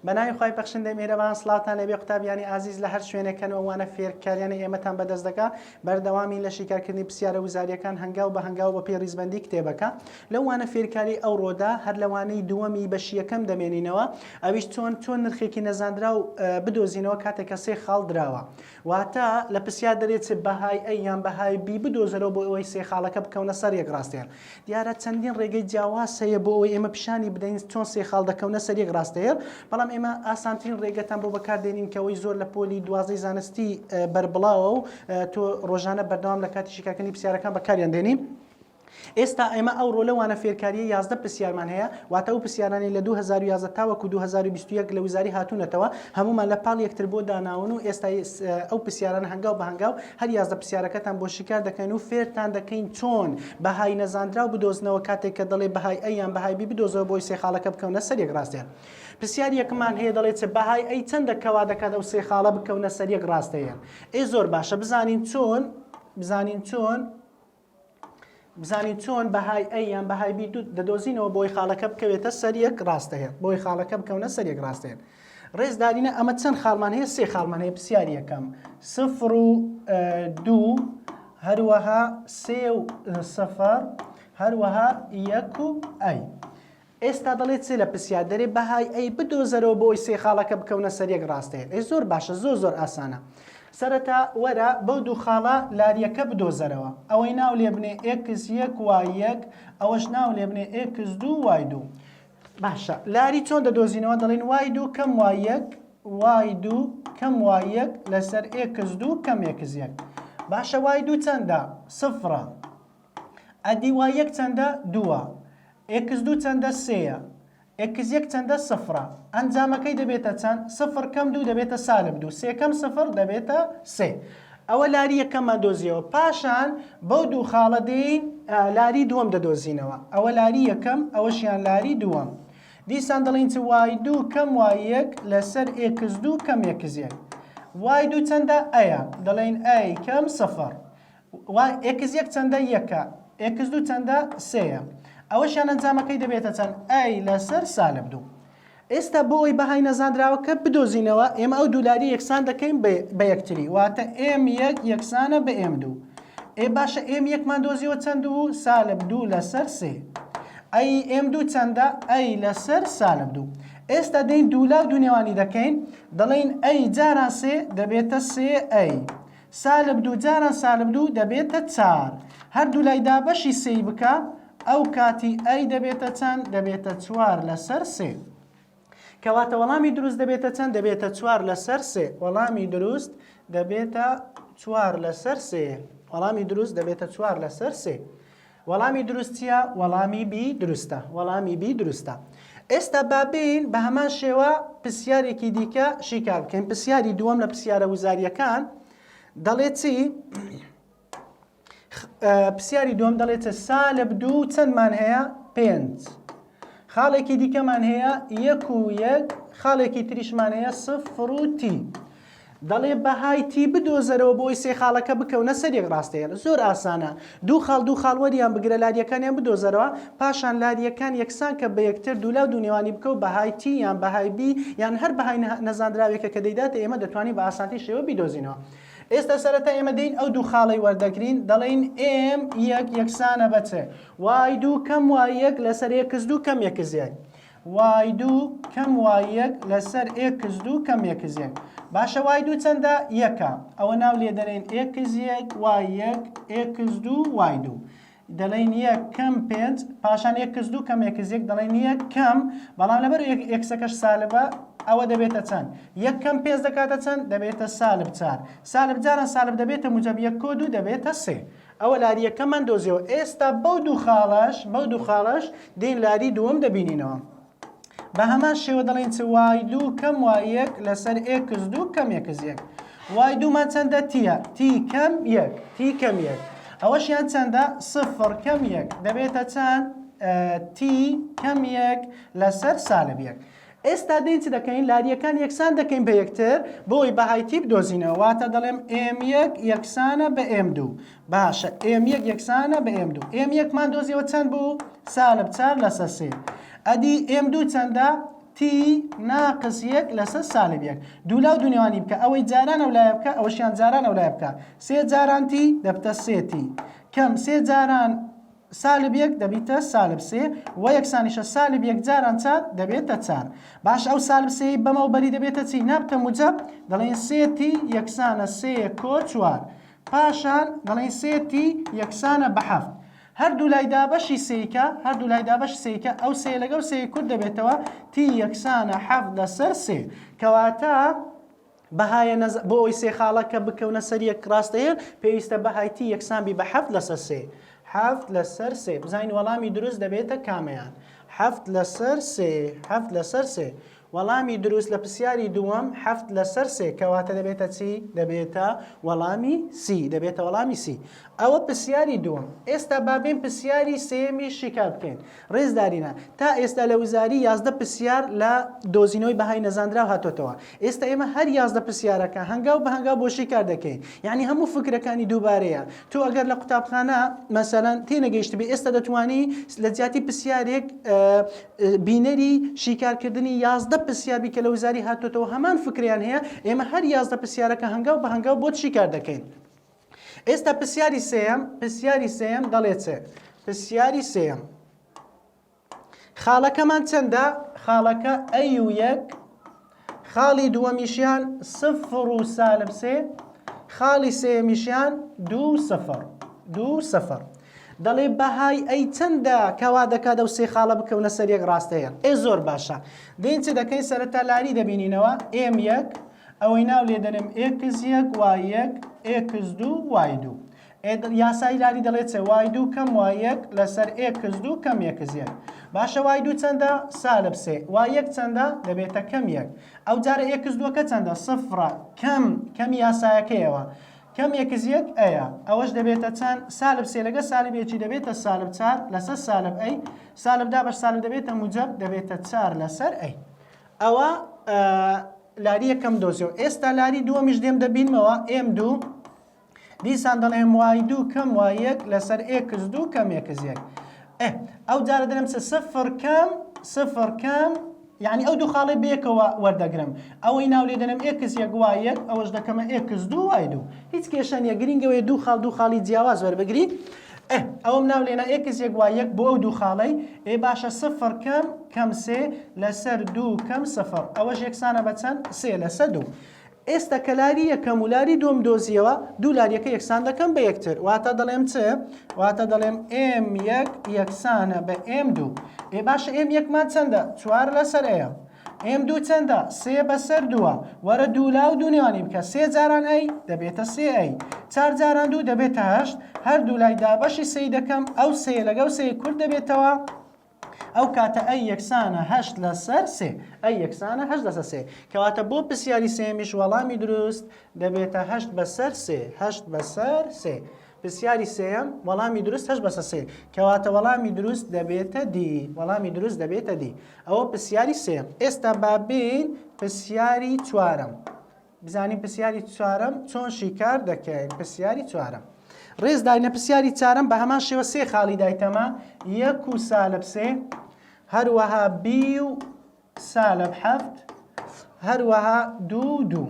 بەناوی خی بەخشندە مێرەوان سلااوان لەبێ قوتابیانی ئازیز لە هەر شوێنەکەن ئەوانە فێرکاریانە ئێمەتان بەدەست دەکە بەردەوامی لە شیکارکردنی پرسیارە وزاریەکان هەنگاو بە هەنگاو بە پێ ریزبندی کتێبەکە لەوانە فێرکاری ئەو ڕۆدا هەر لەوانەی دووەمی بەشیەکەم دەمێنینەوە ئەویش چۆن چۆن نرخێکی نەزانرا و بدۆزینەوە کاتێکە سێ خاڵ دراوە واتە لە پرسیار دەرێ چ بەهای ئەی یان بەهای بی بدۆزەرەوە بۆ ئەوەی سێ خاڵەکە بکەونە سەر یەک ڕاستەیەر. دیارە چەندین ڕێگەی جیاواز هەیە بۆ ئەوەی ئێمە پیشانی بدەین چۆن سێ خاڵ دەکەونە سەر یەک ڕاستەیەر، بەڵام ئێمە ئاسانترین ڕێگەتان بۆ بەکار دێنین کە ئەوەی زۆر لە پۆلی دوازدەی زانستی بەربڵاوە و تۆ ڕۆژانە بەردەوام لە کاتی شیکارکردنی پرسیارەکان بەکاریان دێنی. ئێستا ئێمە ئەو رۆلە وانە فێرکارییە یازدە پرسیارمان هەیە، واتە ئەو پرسیارانەی لە دوو هەزار و یازدە تاوەکو دوو هەزار و بیست و یەک لە وزاری هاتوونەتەوە، هەموومان لە پاڵ یەکتر بۆ داناون و ئێستا ئەو پرسیارانە هەنگاو بە هەنگاو هەر یازدە پرسیارەکەتان بۆ شیکار دەکەین و فێرتان دەکەین چۆن بەهای نەزانراو بدۆزنەوە کاتێک کە دەڵێ بەهای ئەی یان بەهای بی بدۆزەوە بۆی سێ خاڵەکە بکەونە سەر یەک راستەیە پرسیاری یەکمان هەیە دەڵێ چ بەهای ئەی چەندە کە وا دەکات ئەو سێ خاڵە بکەونە سەر یەک راستەیە ئێ زۆر باشە بزانین چۆن بزانین چۆن بزانین چۆن بەهای ئەی یان بەهای بی دەدۆزینەوە بۆی خاڵەکە بکەوێتە سەر یەک ڕاستەیە بۆی خاڵەکە بکەونە سەر یەک ڕاستێن ڕێزدارینە ئەمە چەند خاڵمان هەیە سێ خاڵمان هەیە پرسیار یەکەم سفر و دوو هەروەها سێ و سەفەر هەروەها یەک و ئەی ئێستا دەڵێ چێ لە پسیا دەرێ بەهای ئەی بدۆزەرەوە بۆ ئەوی سێ خاڵەکە بکەونە سەر یەک ڕاستەیە ئەی زۆر باشە زۆر زۆر ئاسانە سەرەتا وەرە بەو دوو خاڵە لاریەکە بدۆزەرەوە ئەوەی ناو لێ بنێ ئێکس یەک وای یەک ئەوەش ناو لێ بنێ ئێکس دوو وای دوو باشە لاری چۆن دەدۆزینەوە دەڵێن وای دوو کەم وای یەک وای دوو کەم وای یەک لەسەر ئێکس دوو کەم ئێکس یەک باشە وای دوو چەندە سفرە ئە دی وای یەک چەندە؟ دووە. ئێکس دوو چەندە؟ سێیە. ئێکس یەک چەندە؟ سفرە. ئەنجامەکەی دەبێتە چەند؟ سفر کەم دوو دەبێتە سالب دوو. سێ کەم سفر دەبێتە سێ. ئەوە لاری یەکەممان دۆزییەوە. پاشان بەو دوو خاڵە دێین لاری دووەم دەدۆزینەوە. ئەوە لاری یەکەم، ئەوەشیان لاری دووەم. دیسان دەڵێین چ؟ وای دوو کەم وای یەک لەسەر ئێکس دوو کەم ئێکس یەک. وای دوو چەندە؟ ئەیە. دەڵێین ئەی کەم سفر. وە ئێکس یەک چەندە؟ یەکە. ئێکس دوو چەندە؟ سێیە. ئەوەشیان ئەنجامەکەی دەبێتە چەند؟ ئەی لەسەر سالب دوو. ئێستا بۆ ئەوەی بەهای نەزاندراوەکە بدۆزینەوە ئێمە ئەو دوو لاری یەکسان دەکەین بە یەکتری واتە ئێم یەک یەکسانە بە ئێم دوو. ئێ باشە ئێم یەکمان دۆزیەوە چەند بوو؟ سالب دوو لەسەر سێ. ئەی ئێم دوو چەندە؟ ئەی لەسەر سالب دوو. ئێستا دێین دوو لا و دوو نێوانی دەکەین دەڵێین ئەی جاران سێ دەبێتە سێ ئەی. سالب دوو جاران سالب دوو دەبێتە چار. هەردوولای دابەشی سێی بکە، ئەو کاتی ئەی دەبێتە چەند؟ دەبێتە چوار لەسەر سێ. کەواتە وەڵامی دروست دەبێتە چەند؟ دەبێتە چوار لەسەر سێ. وەڵامی دروست دەبێتە چوار لەسەر سێ. وەڵامی دروست دەبێتە چوار لەسەر سێ. وەڵامی دروست چیە؟ وەڵامی بی دروستە وەڵامی بی دروستە ئێستا با بێین بە هەمان شێوە پرسیارێکی دیکە شیکار بکەین پرسیاری دووەم لە پرسیارە وزاریەکان دەڵێ چی پرسیاری دووەم دەڵێتە سالب دوو چەندمان هەیە پێنج خاڵێکی دیکەمان هەیە یەک و یەک، خاڵێکی تریشمان هەیە سفر و تی. دەڵێ بەهای تی بدۆزەرەوە بۆی سێ خاڵەکە بکەونە سەر یەک ڕاستەیەلە زۆر ئاسانە دوو خاڵ دوو خاڵ وەریان بگرە لاریەکانیان بدۆزەرەوە پاشان لاریەکان یەکسان کە بە یەکتر دوولاو دوونێوانی بکەو بەهای تی یان بەهای بی یان هەر بەهای نەزاندراوێکە کە دەیداتە ئێمە دەتوانین بە ئاسانتین شێوە بیدۆزینەوە ئێستا سەرەتا ئێمە دێین ئەو دوو خاڵەی وەردەگرین دەڵێین ئێم یەک یەکسانە بە چ وای دوو کەم وای یەک لەسەر ئێکس دوو کەم ئێکس یەک وای دوو کەم وای یەک لەسەر ئێکس دوو کەم ئێکس یەک باشە وای دوو چەندە یەکە ئەوە ناو لێ دەنێن ئێکس یەک وای یەک ئێکس دوو وای دوو دەڵێن یەک کەم پێنج پاشان ئێکس دوو کەم ئێکس یەک دەڵێن یەک کەم بەڵام لەبەر ئێکسەکەش سالبە ئەوە دەبێتە چەند یەک کەم پێنج دەکاتە چەند دەبێتە سالب چار سالب جاران سالب دەبێتە موجب یەک کۆ دوو دەبێتە سێ ئەوە لاری یەکەممان دۆزیەوە ئێستا بەو دوو خاڵەش بەو دوو خاڵەش دێین لاری دووەم دەبینینەوە بە هەمان شێوە دەڵێن چ وای دوو کەم وای یەک لەسەر ئێکس دوو کەم یەکس یەک وای دوومان چەندە تیە تی کەم یەک تی کەم یەک ئەوەشیان چەندە سفر کەم یەک دەبێتە چەند تی کەم یەک لەسەر سالب یەک ئێستا دەین چ دەکەین؟ لارییەکان یەکسان دەکەین بە یەکتر بۆ ئەوەی بەهای تی بدۆزینەوە. واتە دەڵێم ئێم یەک یەکسانە بە ئێم دوو. باشە ئێم یەک یەکسانە بە ئێم دوو. ئێم یەکمان دۆزیەوە چەند بوو؟ سالب چار لەسەر سێ. ئەدی ئێم دوو چەندە؟ تی ناقس یەک لەسەر سالب یەک. دوو لا و دوو نێوانی بکە. ئەوەی جاران ئەو لایە بکە، ئەوەشیان جاران ئەو لایە بکە. سێ جاران تی دەبتە سێ تی کەم سێ جاران سالب یەک دەبیتە سالب سێ وە یەکسانیشە سالب یەک جاران چار دەبێتە چار باش ئەو سالب سێی بەمەو بەری دەبێتە چی نابتە موجەب دەڵێن سێ تی یەکسانە سێ کۆ چوار پاشان دەڵێن سێ تی یەکسانە بە حەفت هەردوو لای دابەشی سێیکە هەردوو لای دابەش سێیکە ئەو سێ لەگەڵ سێی کورد دەبێتەوە تی یەکسانە حەفت لەسەر سێ کەواتە بەهایە نەزە بۆ ئەوەی سێ خاڵە کە بکەونە سەر یەک ڕاستەیەک پێویستە بەهای تی یەکسان بی بە حەفت لەسەر سێ حەفت لەسەر سێ بزانین وەڵامی دروست دەبێتە کامەیان حەفت لەسەر سێ حەفت لەسەر سێ وەڵامی دروست لە پرسیاری دووەم حەفت لەسەر سێ کەواتە دەبێتە چی دەبێتە وەڵامی سی دەبێتە وەڵامی سی ئەوە پرسیاری دووەم ئێستا بابێن پرسیاری سێمی شیکار بکەین ڕێزدارینە تا ئێستا لە وزاری یازدە پرسیار لە دۆزینەوەی بەهای نەزانراو هاتۆتەوە ئێستا ئێمە هەر یازدە پرسیارەکە هەنگاو بە هەنگاو بۆ شیکار دەکەین یعنی هەموو فکرەکانی دووبارەیە تۆ ئەگەر لە قوتابخانە مەسەلەن تێنەگەیشتبێ ئێستا دەتوانی لە جیاتی پرسیارێک بینەری شیکارکردنی یازدە پرسیاربی کە لە وزاری هاتۆتەوە هەمان فکریان هەیە ئێمە هەر یازدە پرسیارەکە هەنگاو بە هەنگاو بۆت شیکار دەکەین ئێستا پرسیاری سێم پرسیاری سێم دەڵێ چێ پرسیاری سێم خاڵەکەمان چەندە خاڵەکە ئەی و یەک خاڵی دووەمیشیان سفر و سالب سێ خاڵی سێمیشیان دوو سفر دوو سفر دەڵێ بەهای ئەی چەندە کەوا دەکات ئەو سێ خاڵە بکەونە سەر یەک ڕاستەیە ئێ زۆر باشە دێن چ دەکەین سەرەتا لاری دەبینینەوە ئێم یەک ئەوەی ناو لێ دەنێم ئێکس یەک وای یەک ئێکس دوو وای دوو ئێ یاسای لاری دەڵێت چێ وای دوو کەم وای یەک لەسەر ئێکس دوو کەم یەکس یەک باشە وای دوو چەندە سالب سێ وای یەک چەندە دەبێتە کەم یەک ئەو جارە ئێکس دووەکە چەندە سفرە کەم کەم یاسایەکەیەوە کەم یەکس یەک ئەیە ئەوەش دەبێتە چەند سالب سێ لەگە سالب یەکی دەبێتە سالب چار لەسەر سالب ئەی سالب دا بەر سالب دەبێتە موجب دەبێتە چار لەسەر ئەی ئەوە لاری یەکەم دۆزیەوە ئێستا لاری دووەمیش دێم دەبینمەوە ئێم دوو دیسان دەڵێم وای دوو کەم وای یەک لەسەر ئێکس دوو کەم ئێکس یەک ئەو جارە دەرم چ سفر کەم سفر کەم یعنی ئەو دوو خاڵی بێکەوە وەردەگرم ئەوەی ناو لێ دەنم ئێکس یەک وای یەک ئەوەش دەکەمە ئێکس دوو وای دوو هیچ کێشە نیە گرنگەوەی دوو خاڵ دوو خاڵی جیاواز وەربگری ئه ئەوەم ناو لێنا ئێکس یەک وای یەک بۆ ئەو دوو خاڵەی ئێ باشە سفر کەم کەم سێ لەسەر دوو کەم سفر ئەوەش یەکسانە بە چەند سێ لەسە دوو ئێستا کە لاری یەکەم و لاری دوم دۆزیەوە دوو لاریەکە یەکسان دەکەم بە یەکتر واتە دەڵێم چ واتە دەڵێم ئێم یەک یەکسانە بە ئێم دوو ئێ باشە ئێم یەکمان چەندە چوار لەسەر ئەیە ئێم دوو چەندە؟ سێ بەسەر دووە. وەرە دوو لا و دوو نێوانی بکە. سێ جاران ئەی دەبێتە سێ ئەی. چار جاران دوو دەبێتە هەشت. هەر دوو لای دابەشی سێی دەکەم. ئەو سێیە لەگەڵ سێی کورت دەبێتەوە. ئەو کاتە ئەی یەکسانە هەشت لەسەر سێ. ئەی یەکسانە هەشت لەسەر سێ. کەواتە بۆ پرسیاری سێیەمیش وەڵامی دروست دەبێتە هەشت بەسەر سێ. هەشت بەسەر سێ. پرسیاری سێیەم وەڵامی دروست هەشت بەسە سێ کەواتە وەڵامی دروست دەبێتە دی وەڵامی دروست دەبێتە دی ئەوە پرسیاری سێم ئێستا بابین پرسیاری چوارم بزانین پرسیاری چوارم چۆن شیکار دەکەین پرسیاری چوارم ڕێز داینە پرسیاری چارم بە هەمان شێوە سێ خاڵی دایتەمە یەک و سالب سێ هەروەها بی و سالب حەفت هەروەها دوو و دوو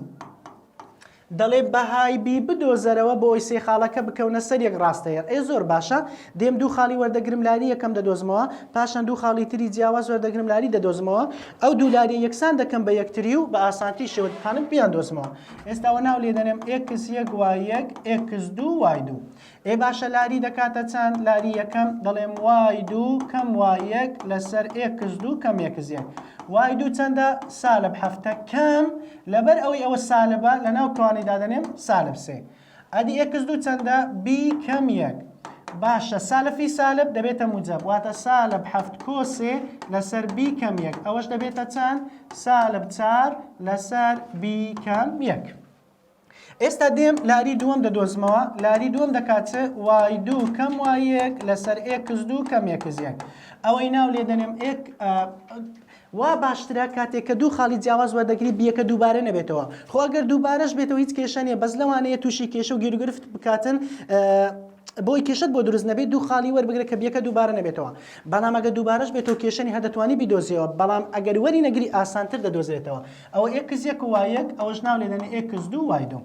دەڵێ بەهای بی بدۆزەرەوە بۆی سێ خاڵەکە بکەونە سەر یەک ڕاستەیە ئێ زۆر باشە دێم دوو خاڵی وەردەگرم لاری یەکەم دەدۆزمەوە پاشان دوو خاڵی تری جیاواز وەردەگرم لاری دەدۆزمەوە ئەو دوو لاری یەکسان دەکەم بە یەکتری و بە ئاسانتی شێوەتخانم پیان دۆزمەوە ئێستاوە ناو لێ دەنێم ئێکس یەک وای یەک ئێکس دوو وای دوو ئێ باشە لاری دەکاتە چەند لاری یەکەم دەڵێم وای دوو کەم وای یەک لەسەر ئێکس دوو کەم ئێکس یەک وای دوو چەندە سالب حەفتە کەم لەبەر ئەوەی ئەوە سالبە لە ناو کوانی دادەنێم سالب سێ ئەدی ئێکس دوو چەندە بی کەم یەک باشە سالفی سالب دەبێتە موجب واتە سالب حەفت کۆسێ لەسەر بی کەم یەک ئەوەش دەبێتە چەند سالب چار لەسەر بی کەم یەک ئێستا دێم لاری دووەم دەدۆزمەوە لاری دووەم دەکا چ وای دوو کەم وای یەک لەسەر ئێکس دوو کەم ئێکس یەک ئەوەی ناو لێ دەنێم ئێک وا باشترە کاتێک کە دوو خاڵی جیاواز وەردەگری بیەکە دووبارە نەبێتەوە خۆ ئەگەر دووبارەش بێتەوە هیچ کێشە نیە بەس لەوانەیە تووشی کێشە و گێروگرفت بکاتن بۆی کێشت بۆ دروست نەبێت دوو خاڵی وەربگرە کە بیەکە دووبارە نەبێتەوە بەڵام ئەگە دووبارەش بێتەوە کێشەنی هەدەتوانی بیدۆزیەوە بەڵام ئەگەر وەری نەگری ئاسانتر دەدۆزێتەوە ئەوە ئێکس یەک و وای یەک ئەوەش ناو لێ دەنێ ئێکس دوو وای دوو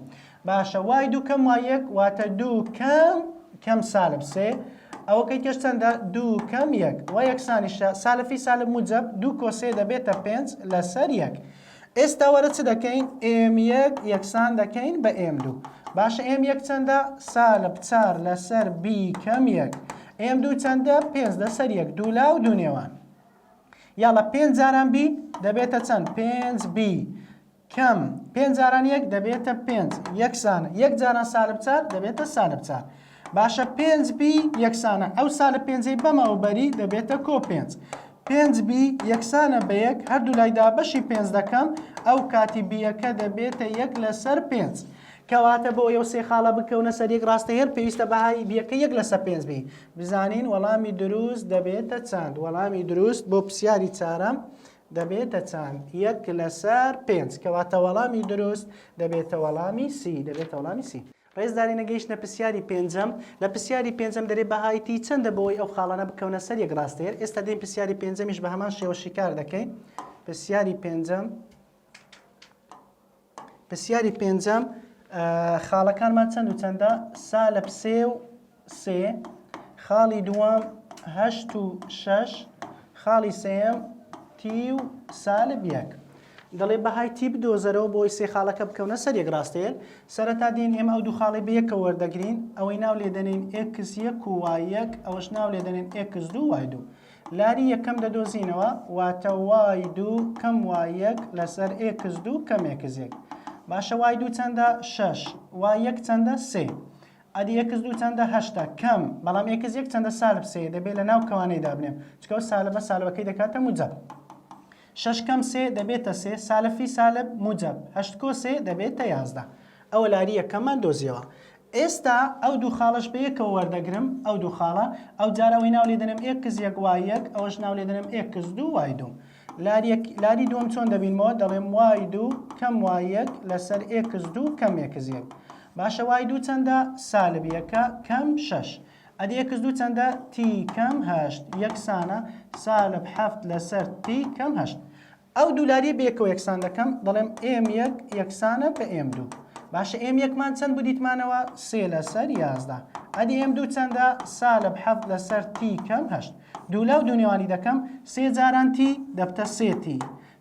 باشە وای دوو کەم وای یەک واتە دوو کەم کەم سالب سێ ئەوە کەی کەش چەندە دوو کەم یەک وای یەکسانیشە سالفی سالب موجب دوو کۆسێ دەبێتە پێنج لەسەر یەک ئێستا وەرە چ دەکەین ئێم یەک یەکسان دەکەین بە ئێم دوو باشە ئێم یەک چەندە سالب چار لەسەر بی کەم یەک ئێم دوو چەندە پێنج لەسەر یەک دوو لا و دوو نێوان یاڵە پێنج جاران بی دەبێتە چەند پێنج بی کەم پێنج جاران یەک دەبێتە پێنج یەکسان یەک جاران سالب چار دەبێتە سالب چار باشە پێنج بی یەکسانە ئەو سالب پێنجەی بەمەوە بەری دەبێتە کۆ پێنج پێنج بی یەکسانە بە یەک هەردوو لایدا بەشی پێنج دەکەم ئەو کاتی بیەکە دەبێتە یەک لەسەر پێنج. کەواتە بۆ ئەو سێ خاڵە بکەونە سەر یەک ڕاستە هەر پێویستە بەهای بیەکە یەک لەسەر پێنج بی بزانین وەڵامی دروست دەبێتە چەند وەڵامی دروست بۆ پرسیاری چارەم دەبێتە چەند یەک لەسەر پێنج کەواتە وەڵامی دروست دەبێتە وەڵامی سی دەبێتە وەڵامی سی ڕێزداری نەگەیشتە پرسیاری پێنجەم لە پرسیاری پێنجەم دەرێ بەهای تی چەندە بۆی ئەو خاڵانە بکەونە سەر یەک ڕاستەیەر ئێستا دێن پرسیاری پێنجەمیش بە هەمان شێوە شیکار دەکەین پرسیاری پێنجەم پرسیاری پێنجەم، خاڵەکانمان چەند و چەندە؟ سا لە پسێ و سێ، خاڵی دووەم هەشت و شەش، خاڵی سێیەم تی و سالب یەک. دەڵێ بەهای تی بدۆزەرەوە بۆی سێ خاڵەکە بکەونە سەر یەک ڕاستەیەک. سەرەتا دێین ئێمە ئەو دوو خاڵەی بە یەکەوە وەردەگرین، ئەوەی ناو لێ دەنێین ئێکس یەک و وای یەک، ئەوەش ناو لێ دەنێین ئێکس دوو وای دوو. لاری یەکەم دەدۆزینەوە واتە وای دوو کەم وای یەک لەسەر ئێکس دوو کەم ئێکس یەک باشە وای دوو چەندە شەش وای یەک چەندە سێ ئەدی ئێکس دوو چەندە هەشتا کەم بەڵام ئێکس یەک چەندە سالب سێ دەبێت لە ناو کەوانەی دابنێم چکە و سالبە سالبەکەی دەکاتە موجەب شەش کەم سێ دەبێتە سێ، سالفی سالب موجەب، هەشت کۆ سێ دەبێتە یازدە. ئەوە لاری یەکەممان دۆزیەوە. ئێستا ئەو دوو خاڵەش بە یەکەوە وەردەگرم، ئەو دوو خاڵە، ئەوجار ئەوەی ناو لێ دەنێم ئێکس یەک وای یەک، ئەوەش ناو لێ دەنێم ئێکس دوو وای دوو. لاری یەک، لاری دووەم چۆن دەبینمەوە؟ دەڵێم وای دوو کەم وای یەک لەسەر ئێکس دوو کەم ئێکس یەک. باشە وای دوو چەندە؟ سالب یەکە کەم شەش. ئەدی ئێکس دوو چەندە؟ تی کەم هەشت یەکسانە سالب حەفت لەسەر تی کەم هەشت. ئەو دوو لاریە بەیەکەوە یەکسان دەکەم دەڵێم ئێم یەک یەکسانە بە ئێم دوو. باشە ئێم یەکمان چەند بوو دیتمانەوە سێ لەسەر یازدە. ئەدی ئێم دوو چەندە؟ سالب حەفت لەسەر تی کەم هەشت. دوولاو دوو نێوانی دەکەم سێ جاران تی دەبتە سێ تی.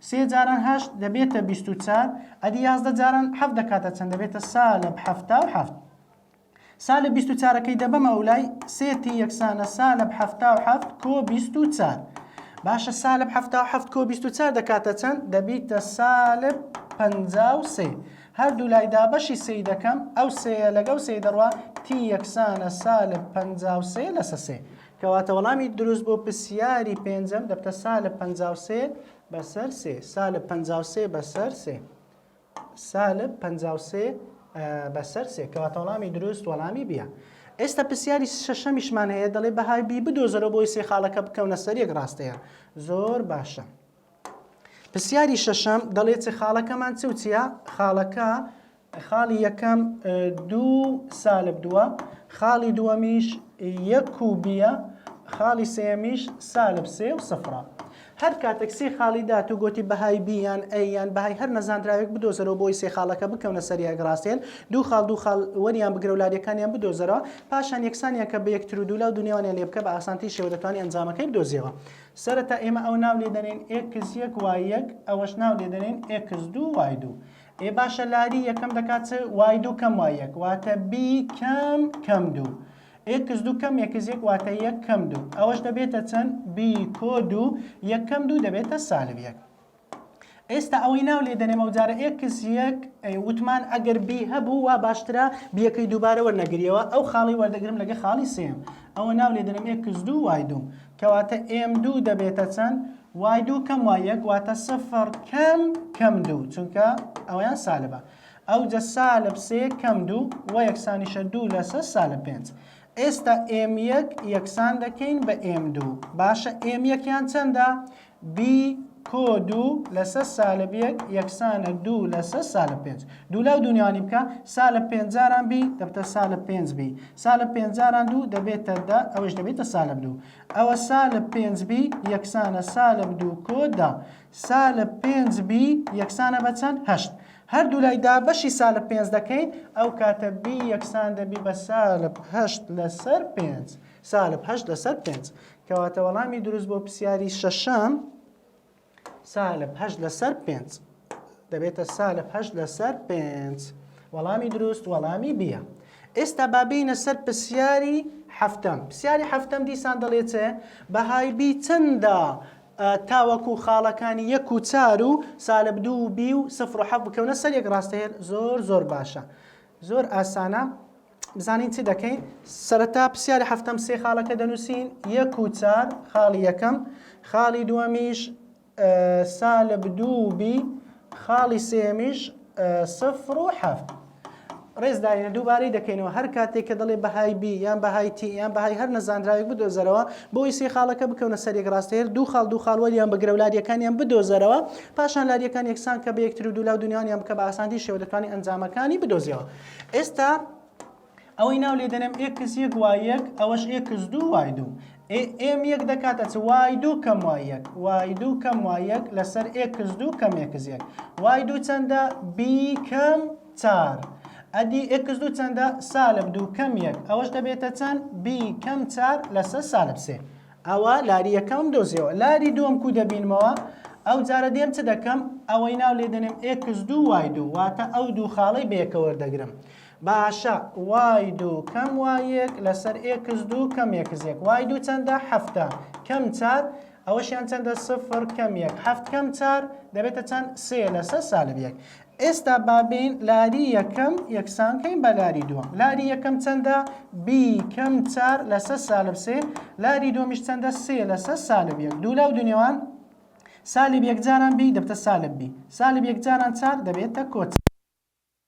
سێ جاران هەشت دەبێتە بیست و چار. ئەدی یازدە جاران حەفت دەکاتە چەند دەبێتە سالب حەفتا و حەفت. سا لە بیست و چارەکەی دەبەمە ئەولای سێ تی یەکسانە سا لە حەفتا و حەفت کۆ بیست و چار باشە سا لە حەفتا و حەفت کۆ بیست و چار دەکاتە چەند دەبیتە سا لە پەنجا و سێ هەردوو لای دابەشی سێی دەکەم ئەو سێیە لەگەڵ سێی دەڕوا تی یەکسانە سا لە پەنجا و سێ لەسە سێ کەواتە وەڵامی دروست بۆ پرسیاری پێنجەم دەبتە سا لە پەنجا و سێ بەسەر سێ سا لە پەنجا و سێ بەسەر سێ سالب پەنجا و سێ بەسەر سێ کەواتە وەڵامی دروست وەڵامی بیە ئێستا پرسیاری شەشەمیشمان هەیە دەڵێ بەهای بی بدۆزەرە بۆی سێ خاڵەکە بکەونە سەر یەک ڕاستەیە زۆر باشە پرسیاری شەشەم دەڵێت چ خاڵەکەمان چ و چیە خاڵەکە خاڵی یەکەم دوو سالب دووە خاڵی دووەمیش یەک و بیە خاڵی سێمیش سالب سێ و سفرە هەر کاتەک سێ خاڵی دات و گۆتی بەهای بی یان ئەی یان بەهای هەر نەزاندراوێک بدۆزەرەوە بۆ ئەوی سێ خاڵەکە بکەونە سەر یەک ڕاستێن دوو خاڵ دوو خاڵ وەریان بگرە و لادێکانیان بدۆزەرەوە پاشان یەکسانیان کە بە یەکتر و دوو لا و دوو نێوانیان لێ بکە بە ئاسانترین شێوە دەتوانی ئەنجامەکەی بدۆزیەوە سەرەتا ئێمە ئەوە ناو لێ دەنێین ئێکس یەک وای یەک ئەوەش ناو لێ دەنێین ئێکس دوو وای دوو ئێ باشە لاری یەکەم دەکات چ وای دوو کەم وای یەک واتە بی کەم کەم دوو ئێکس دوو کەم ئێکس یەک واتە یەک کەم دوو ئەوەش دەبێتە چەند بی کۆ دوو یەک کەم دوو دەبێتە سالب یەک ئێستا ئەوەی ناو لێ دەنێم ئەو جارە ئێکس یەک وتمان ئەگەر بی هەبوو وا باشترە بیەکەی دووبارە وەرنەگریەوە ئەو خاڵی وەردەگرم لەگە خاڵی سێم ئەوە ناو لێ دەنێم ئێکس دوو وای دوو کەواتە ئێم دوو دەبێتە چەند وای دوو کەم وای یەک واتە سفر کەم کەم دوو چونکە ئەویان سالبە ئەوجە سالب سێ کەم دوو وە یەکسانیشە دوو لەسەر سالب پێنج. ئێستا ئێم یەک یەکسان دەکەین بە ئێم دوو. باشە ئێم یەکیان چەندە؟ بی کۆ دوو لەسەر سالب یەک یەکسانە دوو لەسەر سالب پێنج. دوو لاو دوو نێوانی بکە، سالب پێنج جاران بی دەبتە سالب پێنج بی. سالب پێنج جاران دوو دەبێتە دە، ئەوەیش دەبێتە سالب دوو. ئەوە سالب پێنج بی یەکسانە سالب دوو کۆ دە. سا لە پێنج بی یەکسانە بە چەند؟ هەشت. هەردوو لای دابەشی سا لە پێنج دەکەین، ئەو کاتە بی یەکسان دەبی بە سا لە هەشت لەسەر پێنج. سا لە هەشت لەسەر پێنج. کەواتە وەڵامی دروست بۆ پرسیاری شەشەم سا لە هەشت لەسەر پێنج. دەبێتە سا لە هەشت لەسەر پێنج. وەڵامی دروست وەڵامی بیە. ئێستا با بینە سەر پرسیاری حەفتەم. پرسیاری حەفتەم دیسان دەڵێ چێ؟ بەهای بی چەندە ئە تاوەکو خاڵەکانی یەک و چار و سالب دوو و بی و سفر و حەفت بکەونە سەر یەک ڕاستەیەر زۆر زۆر باشە زۆر ئاسانە بزانین چی دەکەین سەرەتا پرسیاری هەفتەم سێ خاڵەکە دەنووسین یەک و چار خاڵی یەکەم خاڵی دووەمیش سالب دوو بی خاڵی سێمیش سفر و حەفت ڕێز داینە دووبارەی دەکەینەوە هەر کاتێک کە دەڵێ بەهای بی یان بەهای تی یان بەهای هەر نەزانراوێک بدۆزەرەوە بۆی سێ خاڵەکە بکەونە سەرێک ڕاستەیە دوو خاڵ دوو خاڵ وەریان بگرە و لاریەکانیان بدۆزەرەوە پاشان لاریەکان یەکسان کە بە یەکتر و دوولا و دونیانیان بکە بە ئاسانتی شێوە دەتوانانی ئەنجامەکانی بدۆزیەوە ئێستا ئەوەی ناو لێ دەنێم ئێکس یەک وای یەک ئەوەش ئێکس دوو وای دوو ئێ ئێم یەک دەکاتە چ وای دوو کەم وای یەک وای دوو کەم وای یەک لەسەر ئێکس دوو کەم ئێکس یەک وای دوو چەندە بی کەم چار ئەدی ئێکس دوو چەندە سالب دوو کەم یەک ئەوەش دەبێتە چەند بی کەم چار لەسەر سالب سێ ئەوە لاری یەکەم دۆزیەوە لاری دووەم کو دەبینمەوە ئەو جارە دێم چ دەکەم ئەوەی ناو لێ دەنێم ئێکس دوو وای دوو واتە ئەو دوو خاڵەی بەیەکەوە دەگرم باشە وای دوو کەم وای یەک لەسەر ئێکس دوو کەم ئێکس یەک وای دوو چەندە حەفتە کەم چار ئەوەشیان چەندە سفر کەم یەک حەفت کەم چار دەبێتە چەند سێ لەسەر سالب یەک ئێستا بابین لاری یەکەم یەکسان کەین بە لاری دووەم لاری یەکەم چەندە بی کەم چار لەسەر سالب سێ لاری دووەمیش چەندە سێ لەسەر سالب یەک دوو لاو دونێوان سالب یەکجاران بی دەبتە سالب بی سالب یەکجاران چار دەبێتە کۆچ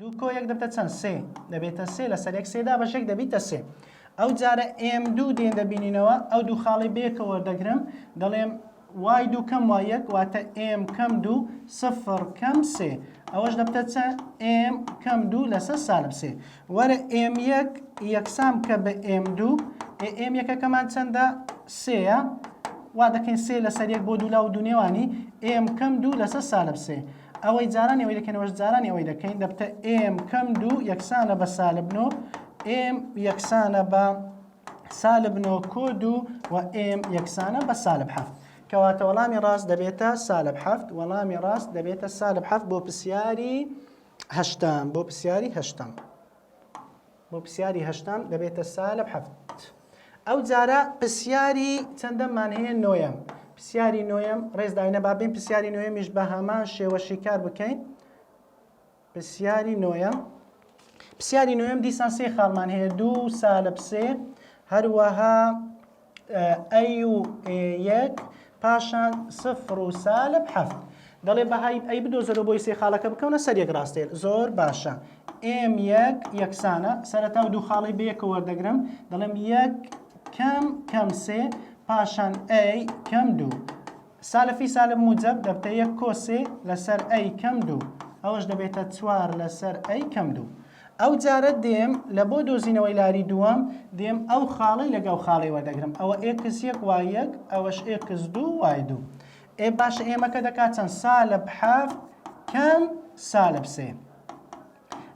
دوو کۆ یەک دەبتە چەند سێ دەبێتە سێ لەسەر یەک سێ دابەش یەک دەبیتە سێ ئەو جارە ئێم دوو دێن دەبینینەوە ئەو دوو خاڵی بەیەکە وەردەگرم دەڵێم وای دوو کەم وای یەک واتە ئێم کەم دوو سفر کەم سێ ئەوەش دەبتە چەند ئێم کەم دوو لەسەر سالب سێ وەرە ئێم یەک یەکسان بکە بە ئێم دوو ئێ ئێم یەکەکەمان چەندە سێە وا دەکەین سێ لەسەر یەک بۆ دوو لا و دوو نێوانی ئێم کەم دوو لەسەر سالب سێ ئەوەی جارانی ئەوەی دەکەنەوەش جارانی ئەوەی دەکەین دەبتە ئێم کەم دوو یەکسانە بە سالب نۆ ئێم یەکسانە بە سالب نۆ کۆ دوو و ئێم یەکسانە بە سالب حەفت کەواتە وەڵامی ڕاست دەبێتە سالب حەفت وەڵامی ڕاست دەبێتە سالب حەفت بۆ پرسیاری هەشتەم، بۆ پرسیاری هەشتەم. بۆ پرسیاری هەشتەم دەبێتە سالب حەفت. ئەو جارە پرسیاری چەندەممان هەیە نۆیەم. پرسیاری نۆیەم ڕێز داینە با بین پرسیاری نۆیەمیش بە هەمان شێوە شیکار بکەین. پرسیاری نۆیەم پرسیاری نۆیەم دیسان سێ خاڵمان هەیە دوو سالب سێ هەروەها ئەی و ئێ یەک پاشان سفر و سالب حەفت دەڵێ بەهای ئەی بدۆزەرەوە بۆی سێ خاڵەکە بکەونە سەر یەک ڕاستێر زۆر باشە ئێم یەک یەکسانە سەرەتا و دوو خاڵی بەیەکە وەردەگرم دەڵێم یەک کەم کەم سێ پاشان ئەی کەم دوو سالفی سالب موجب دەبتە یەک کۆسێ لەسەر ئەی کەم دوو ئەوەش دەبێتە چوار لەسەر ئەی کەم دوو ئەو جارە دێم لە بۆ دۆزینەوەی لاری دووەم دێم ئەو خاڵەی لەگەڵ خاڵەی وەردەگرم ئەوە ئێکس یەک وای یەک ئەوەش ئێکس دوو وای دوو ئێ باشە ئێمەکە دەکات چەند سالب حەفت کەم سالب سێ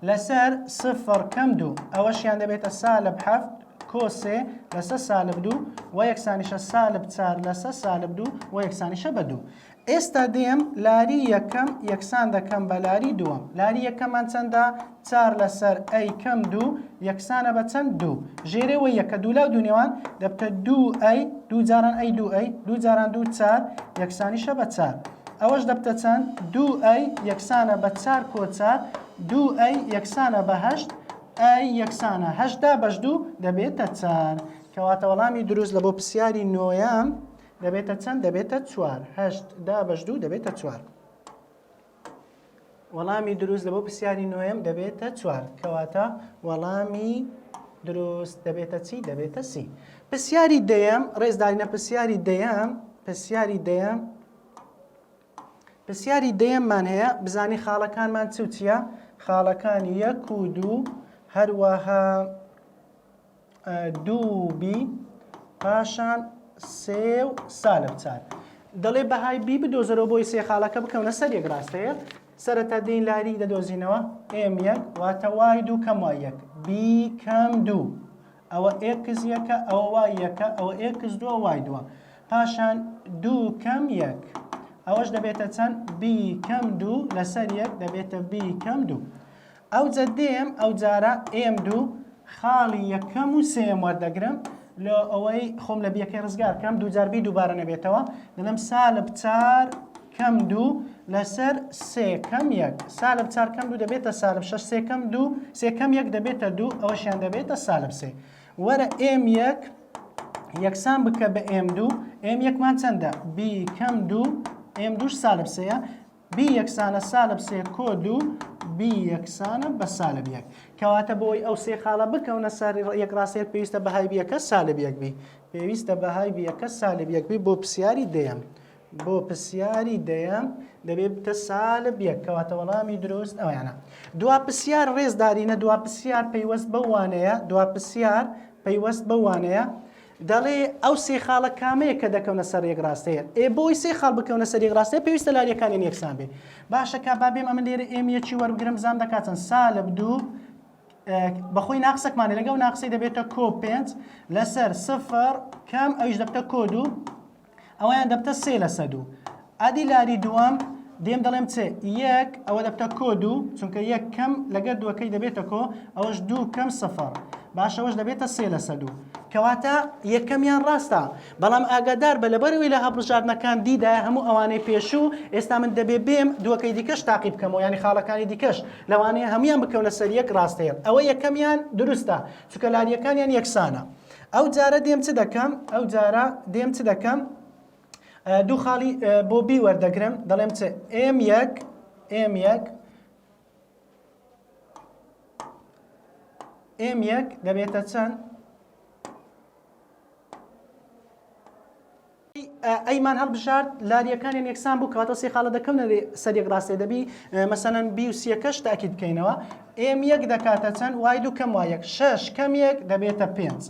لەسەر سفر کەم دوو ئەوەشیان دەبێتە سالب حەفت کۆسێ لەسە سالب دوو و یەکسانیشە سالب چار لەسە سالب دوو و یەکسانیشە بە دوو ئێستا دێم لاری یەکەم یەکسان دەکەم بە لاری دووەم. لاری یەکەمان چەندە؟ چار لەسەر ئەی کەم دوو یەکسانە بە چەند؟ دوو. ژێرێ وە یەکە دوولاو دوونێوان دەبتە دوو ئەی، دوو جاران ئەی دوو ئەی، دوو جاران دوو چار یەکسانیشە بە چار. ئەوەش دەبتە چەند؟ دوو ئەی یەکسانە بە چار کۆ چار، دوو ئەی یەکسانە بە هەشت، ئەی یەکسانە هەشت دابەش دوو دەبێتە چار. کەواتە وەڵامی دروست لە بۆ پرسیاری نۆیەم، دەبێتە چەند دەبێتە چوار هەشت دا بەش دوو دەبێتە چوار وەڵامی دروست لە بۆ پرسیاری نوێم دەبێتە چوار کەواتە وەڵامی دروست دەبێتە چی دەبێتە سی پرسیاری دەیەم ڕێزدارینە پرسیاری دەیەم پرسیاری دەیەم پرسیاری دەیەممان هەیە بزانی خاڵەکانمان چوتیە خاڵەکانی یەک و دوو هەروەها دوو بی پاشان سێ و سالب چار دەڵێ بەهای بی بدۆزەرەوە بۆی سێ خاڵەکە بکەونە سەر یەک ڕاستەیە سەرەتا دین لاری دەدۆزینەوە ئێم یەک واتە وای دوو کەم وای یەک بی کەم دوو ئەوە ئێکس یەکە ئەوە وای یەکە ئەوە ئێکس دووە وای دووە پاشان دوو کەم یەک ئەوەش دەبێتە چەند بی کەم دوو لەسەر یەک دەبێتە بی کەم دوو ئەو جەدەیەم ئەو جارە ئێم دوو خاڵی یەکەم و سێم وەردەگرم لۆ ئەوەی خۆم لە بیەکەی ڕزگار کەم دوو جار بی دووبارە نەبێتەوە دەڵێم سالب چار کەم دوو لەسەر سێکەم یەک سالب چارکەم دوو دەبێتە سالب شش سێکەم دوو سێکەم یەک دەبێتە دوو ئەوەشیان دەبێتە سالب سێ وەرە ئێم یەک یەکسان بکە بە ئێم دوو ئێم یەکمان چەندە بیکەم دوو ئێم دووش سالب سەیە B یەکسانە سالب سێ کۆ دوو B یەکسانە بە سالب یەک کەواتە بۆی ئەو سێ خاڵە بکەونە سەر یەک ڕاستێت پێویستە بەهای بیەکە سالب یەک بی پێویستە بەهای بیەکە سالب یەک بی بۆ پرسیاری دەیەم بۆ پرسیاری دەیەم دەبێ بتە سالە بیەک کەواتە وەڵامی دروست ئەویانە دوا پرسیار ڕێزدارینە دوا پرسیار پەیوەست بەوانەیە دوا پرسیار پەیوەست بەوانەیە دەڵێ ئەو سێ خاڵە کامەیە کە دەکەونە سەر یەک ڕاستەیە ئێ بۆی سێ خاڵ بکەونە سەر یەک ڕاستەیە پێویستە لاریەکانیان یەکسان بێ باشە کا بابێم ئەمن لێرە ئێم یەکی وەربگرم بزانم دەکات چەند سالب دوو بەخۆی ناقسەکمانە لەگەڵ ناقسی دەبێتە کۆ پێنج لەسەر سفر کەم ئەویش دەبتە کۆ دوو ئەوەیان دەبتە سێ لە سەد و ئەدی لاری دووەم دێم دەڵێم چێ یەک ئەوە دەبتە کۆ دوو چونکە یەک کەم لەگەر دووەکەی دەبێتە کۆ ئەوەش دوو کەم سەفەر باشەوەش دەبێتە سێ لە سەد و کەواتە یەکەمیان ڕاستە بەڵام ئاگادار بە لەبەرەوەی لە هەڵبژاردنەکان دیدا هەموو ئەوانەی پێشوو ئێستا من دەبێ بێم دووەکەی دیکەش تاقی بکەمەوە ینی خاڵەکانی دیکەش لەوانەیە هەمویان بکەونە سەر یەک ڕاستەیە ئەوە یەکەمیان دروستە چکە لاریەکانیان یەکسانە ئەو جارە دێم چ دەکەم؟ ئەو جارە دێم چ دەکەم؟ دوو خاڵی بۆ بی وەردەگرم دەڵێم چ ئێم یەک ئێم یەک ئێم یەک دەبێتە چەند؟ ئەی مان هەڵبژارد لاریەکانیان یەکسان بوو کەواتە سێ خاڵە دەکەونە سەر یەک ڕاستە دەبی مەسەەن بی و سیەکەش تاکیت بکەینەوە ئێم یەک دەکاتە چەند وای دوو کەم وایەک شش کەم یەک دەبێتە پێنج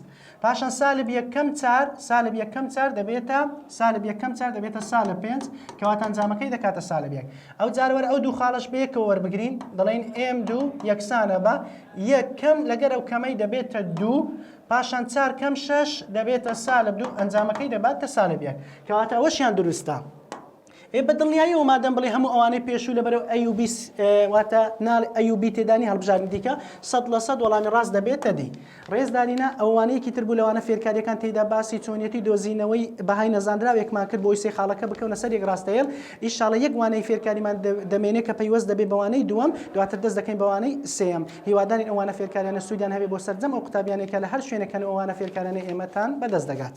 پاشان سالب یەکەم چار سالب یەکەم چار دەبێتە سالب یەکەم چار دەبێتە سالە پێنج کەواتان جامەکەی دەکاتە سالب یەک ئەو جارەوەر ئەو دوو خاڵش بەیەکەوە وەربگرین دەڵێن ئێم دوو یەکسانە بە یەکەم لەگەر ئەو کەمەی دەبێتە دوو پاشان چار کەم شەش دەبێتە سالب دوو ئەنجامەکەی دەباتە سالب یەک کەواتە ئەوەشیان دروستە ئێ بە دڵنیاییەوە مادەم بڵێ هەموو ئەوانەی پێشوو لە بەرەو ئەی و بی واتە ناڵ ئەی و بی تێدانی هەڵبژاردن دیکە سەد لە سەد وەڵامی ڕاست دەبێتە دی ڕێزدارینە ئەوانەیەکی تر بوو لەوانە فێرکاریەکان تێدا باسی چۆنیەتی دۆزینەوەی بەهای نەزانراوێکمان کرد بۆی سێ خاڵەکە بکەونە سەر یەک ڕاستەیەل ئیشاڵە یەک وانەی فێرکاریمان دەمێنێ کە پەیوەست دەبێ بە وانەی دووەم دواتر دەست دەکەین بە وانەی سێیەم هیوادارین ئەو وانە فێرکاریانە سوودیان هەبێ بۆ سەرجەم ئەو قوتابیانەی کە لە هەر شوێنەکەن ئەو وانە فێرکارانەی ئێمەتان بەدەست دەگات.